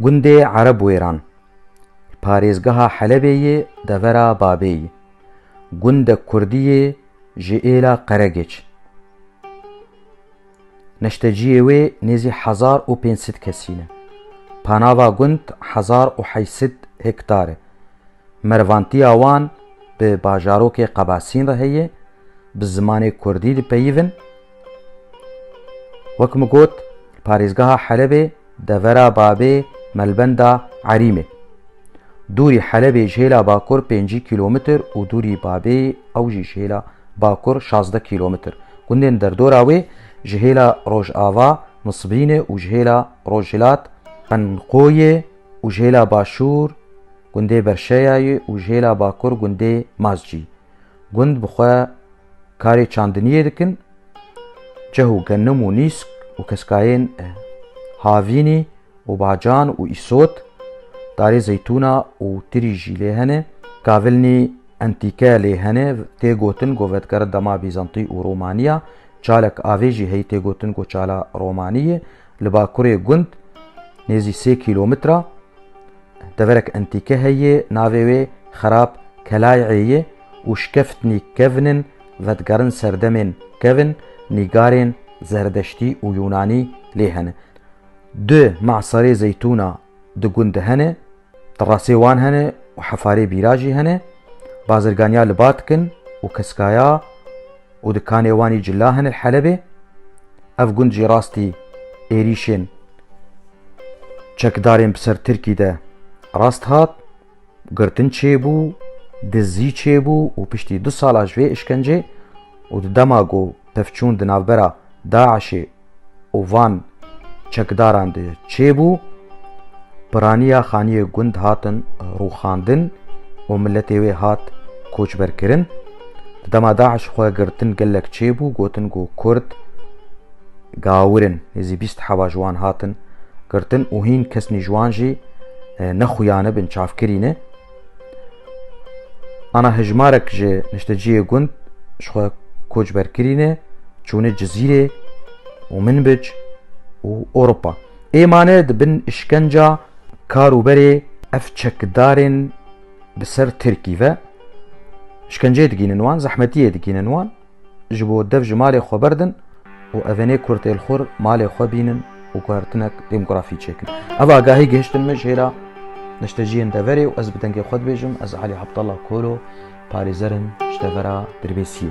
Gundê Erebwêran li parêzgeha Helebê yê devera Babê ye. Gundek kurdî yê ji êla Qeregêç. Neşteciyê wê nêzî hezar û pênc sed kesî ne. Panava gund hezar û heşt sed hektar e. Mervantiya wan bi bajarokê Qebasîn re heye, bi zimanê kurdî dipeyivin. Wek min got, li parêzgeha Helebê devera Babê Melbenda Erîmê. Dûrî Helebê ji hêla bakur pêncî kîlometr û dûrî Babê ew jî ji hêla bakur şazdeh kîlometr. Gundên derdora wê ji hêla rojava Nisbrînê û ji hêla rojhilat Qenqoyê û ji hêla başûr gundê Berşeyayê û ji hêla bakur gundê Mazcî. Gund bi xwe karê çandiniyê dikin, cih û genim û nîsk û keskayên havînî û bacan û îsot, darê zeytûna û tirî jî lê hene. Kavilnî entîke lê hene, tê gotin ku vedgere dema Bîzantî û Romanî ya. Çalek avê jî heyî tê gotin ku Çala Romanî ye. Li bakurê gund nêzî sê kîlometre. Deverek entîke heye navê wê Xerab Kelayê ye û şkeftnî kevn in vedigerin serdemên kevn nîgarên Zerdeştî û Yûnanî lê hene. Du maserê zeytûna di gund de hene, terasê wan hene û hefarê bîra jî hene. Bazirganiya li ba dikin û keskaya. û dikanê wan jî cila hene li Helebê. Ev gund jî rastî êrîşên çekdarên bi ser Tirkî de rast hat, girtin çêbû, dizî çêbû û piştî du sala ji vê îşkencê û di dema ku pevçûn di navbera DAIŞê û van çekdaran de çêbû, piraniya xaniyê gund hatin rûxandin û miletê wê hat koçberkirin. Di dema DAIŞ xwe girtin gelek çêbû, gotin ku Kurd gawir in. Nêzî bîst heva ji wan hatin girtin û hîn kesnî ji wan jî nexuyanibin çavkirî ne. Ana hejmarek ji nişteciyê gund ji xwe koçber kirîne çûne Cizîrê û Minbic û Ewropa. Ê mane di bin îşkenca kar û berê ev çekdarên bi ser Tirkî ve. Îşkenceyê digînin wan, zehmetiyê digînin wan. Ji bo dev ji malê xwe berdin û evenê kurtêlxwir malê xwe bînin û guhertinek demografî çêkin. Ev agahî gihiştin min jê re neşteciyên deverê û ez bi dengê xwe dibêjim ez Alî Abdallah Kolo parêzerim ji devera Dirbêsiyê.